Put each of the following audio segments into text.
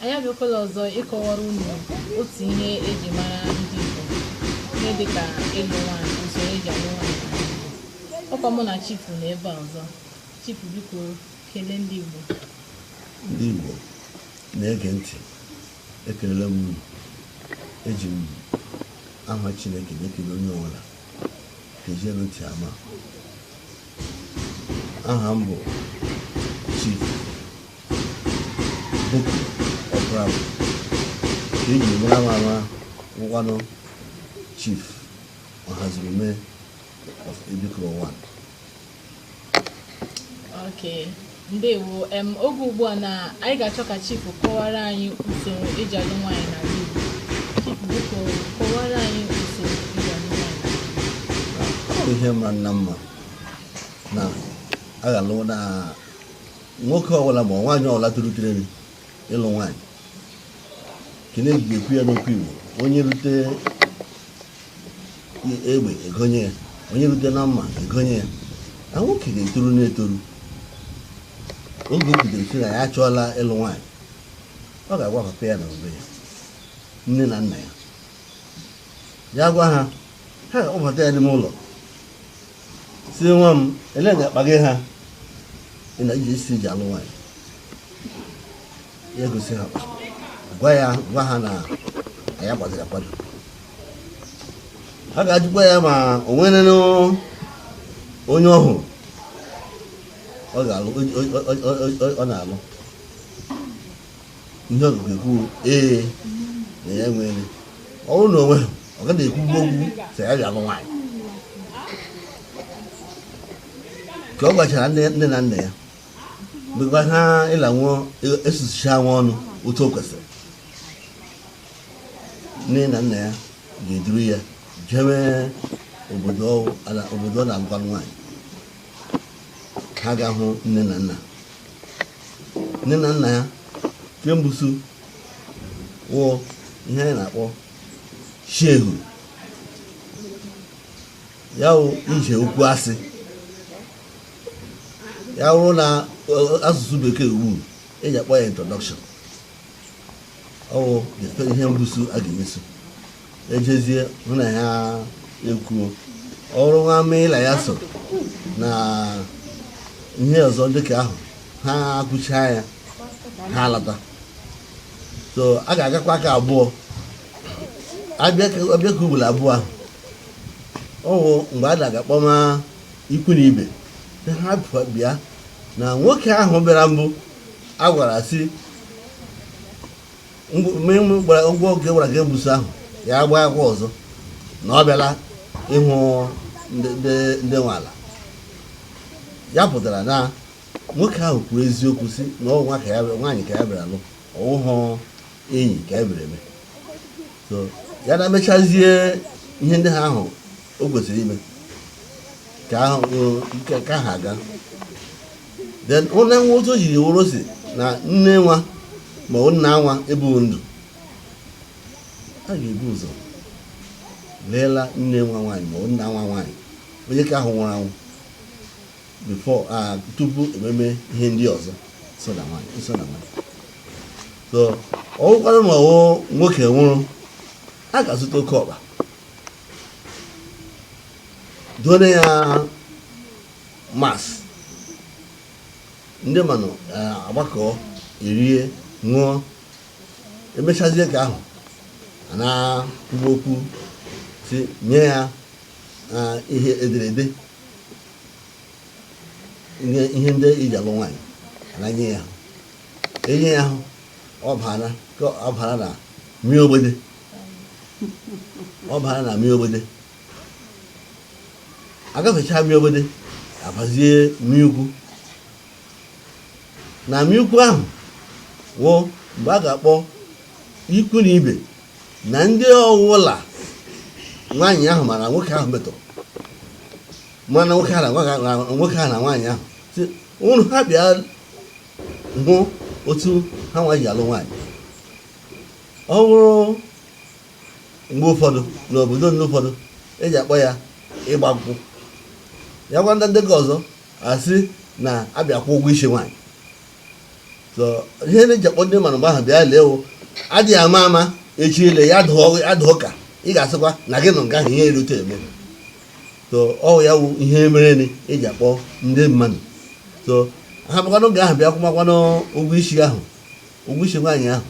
Anyị abịakwala ọzọ ịkọwara unu otu ihe eji mara ndị Igbo ihe dịka ịlụ nwaanyị usoro eji alụ nwaanyị ọkwa mụ na Chief nọ ebe a ọzọ Chief biko kelee ndị Igbo ndị Igbo na-ege ntị ekelela m unu eji m aha Chineke na-ekele onye ọbụla ka ejielu ntị ama aha m bụ Chief Boko Opara ke eji mara m ama wụkwanụ Chief Ọhazurume of Ebikoro 1 Okay. Ndewo. Em, oge ugbu a na anyị ga-achọ ka Chief kọwara anyị usoro eji alụ nwaanyị n'ala Igbo. Chief, biko kọwara anyị usoro eji alụ nwaanyị n'ala Igbo. ọ bụ ihe mara nnọọ mma na aghalụ na nwoke ọbụla ma nwaanyị ọbụla toru tireni ịlụ nwaanyị ke eji ekwu ya n'okwu Igbo onye rute egbe egonye ya onye rute na mma egonye ya na nwoke ga-etoru na-etoru oge o bidoro si na ya achọọla ịlụ nwaanyị ọ ga-agwa papa ya na mgbe ya nne na nna ya ya gwa ha ha ewebata ya n'ime ụlọ sị nwa m elee nga akpa gị ha ị na-asị iji alụ nwaanyị ya egosi ha akpa. gwa ya gwa ha na anyị agbaziri akwado ha ga-ajụkwa ya ma o nwere onye ọ hụrụ ọ ga-alụ ọ- ọ- ọ- ọ- ọ na-alụ ihe ọ ga ekwu ee na ya nwere ọ bụrụ na o nweghị ọ gaghị ekwu okwu sị ya lụọ nwaanyị ka ọ gwachara nne na nna ya mgbe ha ịla nwụọ esusicha nwa ọnụ otu o kwesịrị nne na nna ya ga-eduru ya jewe obodo ọ na-alụ nwaanyị ha ga-ahụ nne na nna nne na nna ya ke mbusu wụ ihe anyị na-akpọ shehu ya wụ ije okwu asị ya wụrụ na asụsụ bekee wụ ihe eji akpọ ya introduction ọ wụ ihe mbusu a ga-emeso ejezie hụ na ya ekwuo ọrụ nwa meela ya so na ihe ọzọ dịka ahụ ha akụchaa ya ha alata so a ga-agakwa ka abụọ abịa ka ugboro abụọ ahụ ọwụ mgbe a na-aga kpọma ikwu na ibe ha bịa na nwoke ahụ bịara mbụ a gwara sị ụgwọ oge gwara ka mbụzọ ahụ ya abịakwa ọzọ na ọ bịala ịhụ ndị nwe ala ya pụtara na nwoke ahụ kwuru eziokwu sị na ọwụ nwaanyị ka ya bịara ịlụ ọwụhụ enyi ka ya bịara ime so ya na-emechazie ihe ndị ha ahụ o kwesịrị ime ka ahụ ka ha aga then onye nwa otu o jiri wụrụ sị na nne nwa ma ọ nna nwa ebighị ndụ a ga-ebu ụzọ leela nne nwa nwaanyị ma ọ nna nwa nwaanyị onye ka ahụ nwụrụ anwụ before tupu ememe ihe ndị ọzọ so na nwaanyị so ọwụkwanụ ma ọwụ nwoke nwụrụ a ga-azụta oke ọkpa donye ya mas ndị manụ agbakọ erie ṅụọ emechazie ka ahụ a na-ekwuba okwu sị nye ya ihe e dere ede ihe ndị iji alụ nwaanyị a na-enye ya enye ya ahụ ọ bara ka ọ bara na mịị ogbede ọ bara na mịị ogbede agafecha mịị ogbede abazie mịị ukwu na mịị ukwu ahụ wụ mgbe a ga-akpọ ikwu na ibe na ndị ọwụla nwaanyị ahụ ma nwoke ahụ metụrụ mana nwoke ahụ na nwaanyị ahụ si ụnụ ha bịa hụ otu ha nwa ji alụ nwaanyị ọ wụrụ mgbe ụfọdụ n'obodo ndị ụfọdụ eji akpọ ya ịgba nkwụ ya gwa ndị ndị ka ọzọ asị na abịa kwụ ụgwọ isi nwaanyị so ihe na-eji akpọ ndị manụ mgbe ahụ bịa lee wụ adịghị ama ama echi ile ya adịhụ ka ị ga-asịkwa na gị nọ nga ahụ ihe erute eme so ọwụ ya wụ ihe mere eji akpọ ndị manụ so ha bịakwa n'oge ahụ bịa kwụmakwanụ ụgwọ isi ahụ ụgwọ isi nwaanyị ahụ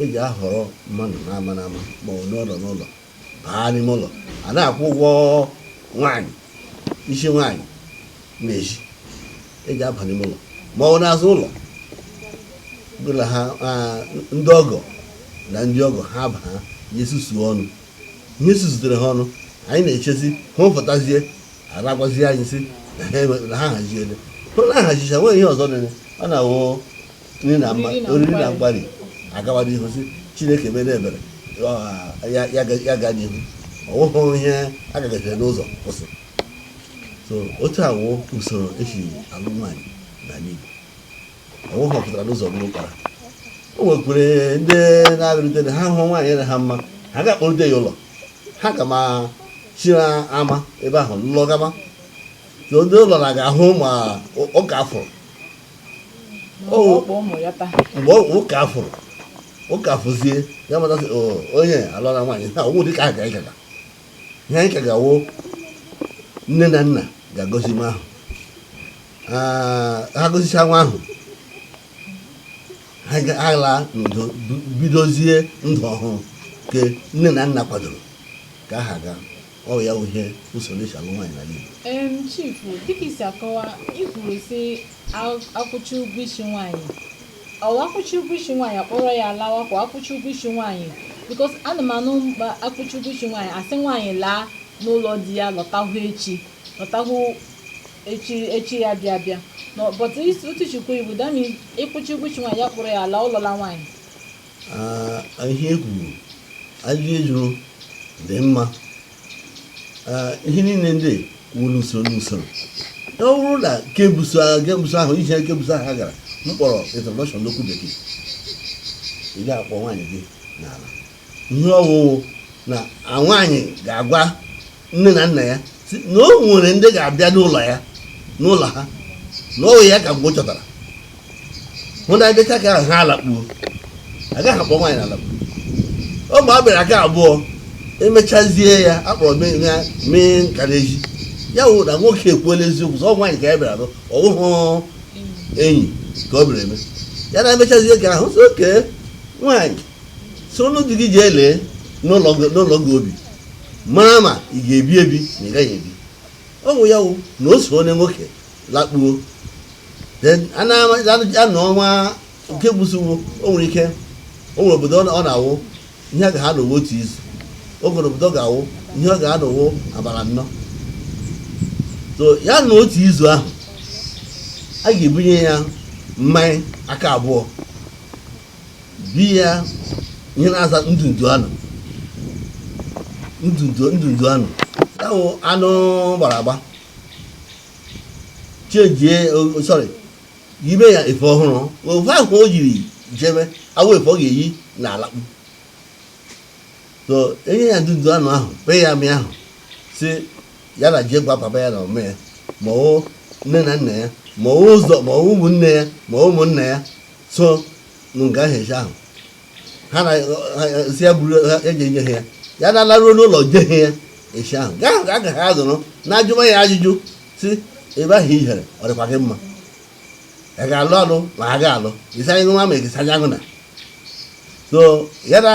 e ji ahọrọ mmadụ n'ama n'ama ma ọ bụ n'ụlọ n'ụlọ baa n'ime ụlọ a na-akwụ ụgwọ nwaanyị isi nwaanyị na-esi e ji aba n'ime ụlọ ma ọ bụ n'azụ ụlọ bụla ha ah, ndị ọgọ na ndị ọgọ ha baa ya esusuo ọnụ ihe susutere ha ọnụ anyị na-echezi ha fụtazie ha agwazie anyị sị na ha eme- na ha haziele hụ na ahazicha nwee ihe ọzọ nene ọ na-awụ nri na mma oriri na mgbari agawa n'ihu sị chineke mere ebere ya gaa n'ihu ọ wụhụ ihe a gagaziri n'ụzọ kwụsị so otu a wụ usoro e si alụ nwaanyị na n'igbo ọ wụhụ ọ pụtara n'ụzọ bụrụ ụkpara o nwekwere ndị na-abịarute na ha hụ nwaanyị na ha mma ha ga-akpọrute ya ụlọ ha ga ma chira ama ebe ahụ lụlọgama so ndị ụlọ na agahụ ama ụka afụrụ mgbe ụka afụrụ ụka afụzie ya mata sị onye alụla nwaanyị na ọ wụ dịka aga ịgaga ihe anyị ka ga-awụ nne na nna ga-agọzi nwa ahụ ha gọzicha nwa ahụ ha ga-ala n'udo bidozie ndụ ọhụrụ nke nne na nna kwadoro ka ha gaa Ọ ya bụ ihe usoro e si alụ nwaanyị n'ala Igbo. Em chifu, dịka i si akọwa, i kwuru sị a- akwụcha ụgwọ isi nwaanyị. Ọ akwụcha ụgwọ isi nwaanyị akpọrọ ya lawa ka ọ akwụcha ụgwọ isi nwaanyị. Because ana m anụ mkpa akwụcha ụgwọ isi nwaanyị a sị nwaanyị laa n'ụlọ di ya lọtahụ echi lọtahụ echi echi ya bịa bịa. Nọ- But isi- otu chukwu iwu dami ịkwụcha ụgwọ isi nwaanyị ya kpọrọ ya laa ị lụọla nwaanyị. ihe e kwuru ajụjụ ị jụrụ dị mma ihe niile dịkwa n'usoro n'usoro ọ bụrụ na nke bu ụzọ ahụ nke bu ụzọ ahụ ije nke bu ụzọ ahụ ha gara m kpọrọ introduction n'okwu bekee ị ga-akpọ nwaanyị gị n'ala ihe ọ wụ wụ na nwaanyị ga-agwa nne na nna ya sị na o nwere ndị ga-abịa n'ụlọ ya n'ụlọ ha na ọ ya ka mgbe ọ chọtara hụ na emecha ka ahụ ha alakpuo agaghị akpọ nwaanyị na alakpuo ọ ma ọ bịara aka abụọ emechazie ya akpọrọ ya mee nka n'ezi ya wụ na nwoke ekwuola eziokwu sị ọ nwaanyị ka ya bịara ịlụ ọ wụhụ enyi ka ọ bịara ime ya na emechazie ka ahụ sị okay nwaanyị soronụ di gị jee lee n'ụlọ gị n'ụlọ ị ga-ebi mara ma ị ga-ebi ebi na ị gaghị ebi ọ bụ ya wụ na o so onye nwoke lakpuo then a na-ama- a na- a nọ ọnwa nke bu ụzọ o nwere ike o nwere obodo ọ na- ọ na-awụ ihe ga ha anọ wụ otu izu o nwere obodo ọ ga-awụ ihe ọ ga-ha anọ wụ abalị nnọ so ya nọọ otu izu ahụ a ga-ebunye ya mmanya aka abụọ biya ihe na-aza ndụ ndụ anụ ndụ ndụ ndụ anụ ahụ anụ gbara agba chejie sorry yibe ya efe ọhụrụ efe ahụ o jiri jebe awụ efe ọ ga-eyi na alakpu so enye ya ndụdụ anụ ahụ be ya mmịị ahụ sị ya laa jee gwa papa ya na ome ya ma ọ wụ nne na nna ya ma ọ wụ ma ọ ụmụnne ya ma ụmụnna ya so nụ nga ahụ echi ahụ ha na si ya buru ha eji enye ha ya ya na-alaruo n'ụlọ je ha ya echi ahụ nga ahụ ka a ga ha azụrụ na ajụma ya ajụjụ sị ebe ahụ i jere ọ dịkwa gị mma ị ga-alụ alụ ma ha ga-alụ ịsanye nwa ma ịsanye ahụ na so ya na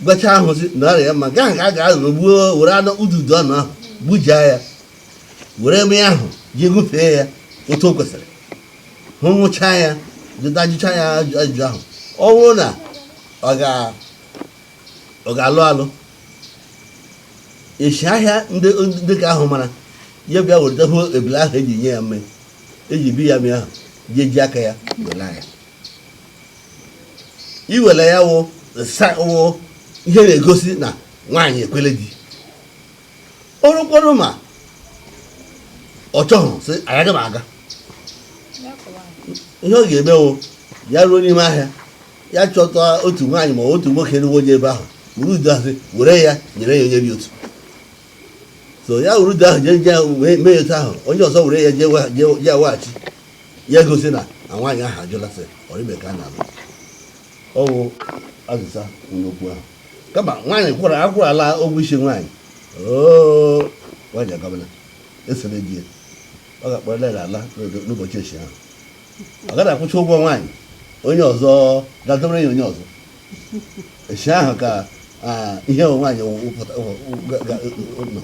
gwachaa ha sị na ọ rị ya mma nga ahụ ka a ga-azụrụ gbuo were anụ ndụdụ anụ ahụ gbujaa ya were ebe ahụ ji gụfee ya otu o kwesịrị hụ ṅụchaa ya tachaa ya ajụjụ ahụ ọ bụrụ na ọ ga-alụ alụ echi ahịa ndị ka ahụ mara ya bịa weta hụ ebele ahụ eji nye ya mmịị eji bi ya mmịị ahụ ji eji aka ya welaa ya iwela ya wụ ihe na-egosi na nwaanyị ekwele di ọ bụrụkwanụ ma ọ chọghị sị agaghị m aga ihe ọ ga-eme wụ ya ruo n'ime ahịa ya chọta otu nwaanyị ma otu nwoke na-awụ onye ebe ahụ wuru udu ahụ were ya nyere ya onye dị otu so ya wuru udu ahụ jee jee mee ya otu ahụ onye ọzọ were ya jee ya weghachi ya gosi na na nwaanyị ahụ ajụla sị ọrịbe ka a na-alụ ọ wụ azịza n'okwu ahụ kama nwaanyị akwụrụla ụgwọ isi nwaanyị oo nwaanyị agabala isoro di ya a ga-akpọrọ ya na-ala n'oge- n'ụbọchị echi ahụ a ga na-akwụcha ụgwọ nwaanyị onye ọzọ ga-adọrọ ya onye ọzọ echi ahụ ka ah, ihe bụ nwaanyị wụ- wụpụta wụ- wụ- ga- ga- nọ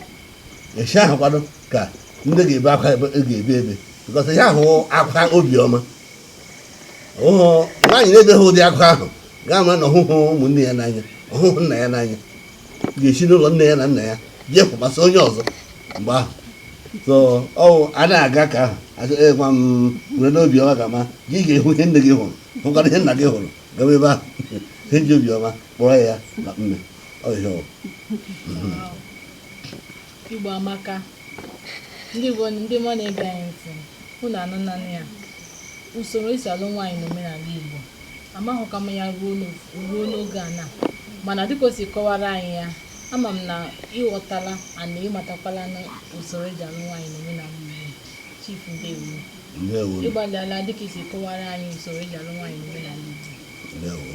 echi ahụ kwado ka ndị ga-ebe akwa ebe- ga-ebe ebe because ihe ahụ wụ akwa obiọma nwaanyị na-ebeghị ụdị akwa ahụ ga-ama na ọ hụhụ ụmụnne ya n'anya ọ hụhụ nna ya n'anya ya esi n'ụlọ nne ya na nna ya bịa kwụkwasị onye ọzọ mgbe ahụ so ọ wụ a na-aga ka ahụ gwa m nwere n'obi ọma ga-ama gị ga-ahụ ihe nne gị hụrụ hụkwara ihe nna gị hụrụ gawa ebe ahụ ihe e ji obiọma kpọrọ ya na mme ọhịa Igbo amaka. Ndị Igbo ndị ọma na-ege anyị ntị, unu anụna nụ ya. Usoro esi alụ nwaanyị n'omenala Igbo. Amaghịkwa m ya ruo n'oge a na. Mana dịka o si kọwara anyị ya, ama m na ị ghọtala ya na ị matakwala na usoro eji alụ nwaanyị n'omenala Igbo. Chief Ndewo. Ndewo. Ị gbalịala dịka i si kọwara anyị usoro eji alụ nwaanyị n'omenala Igbo. Ndewo.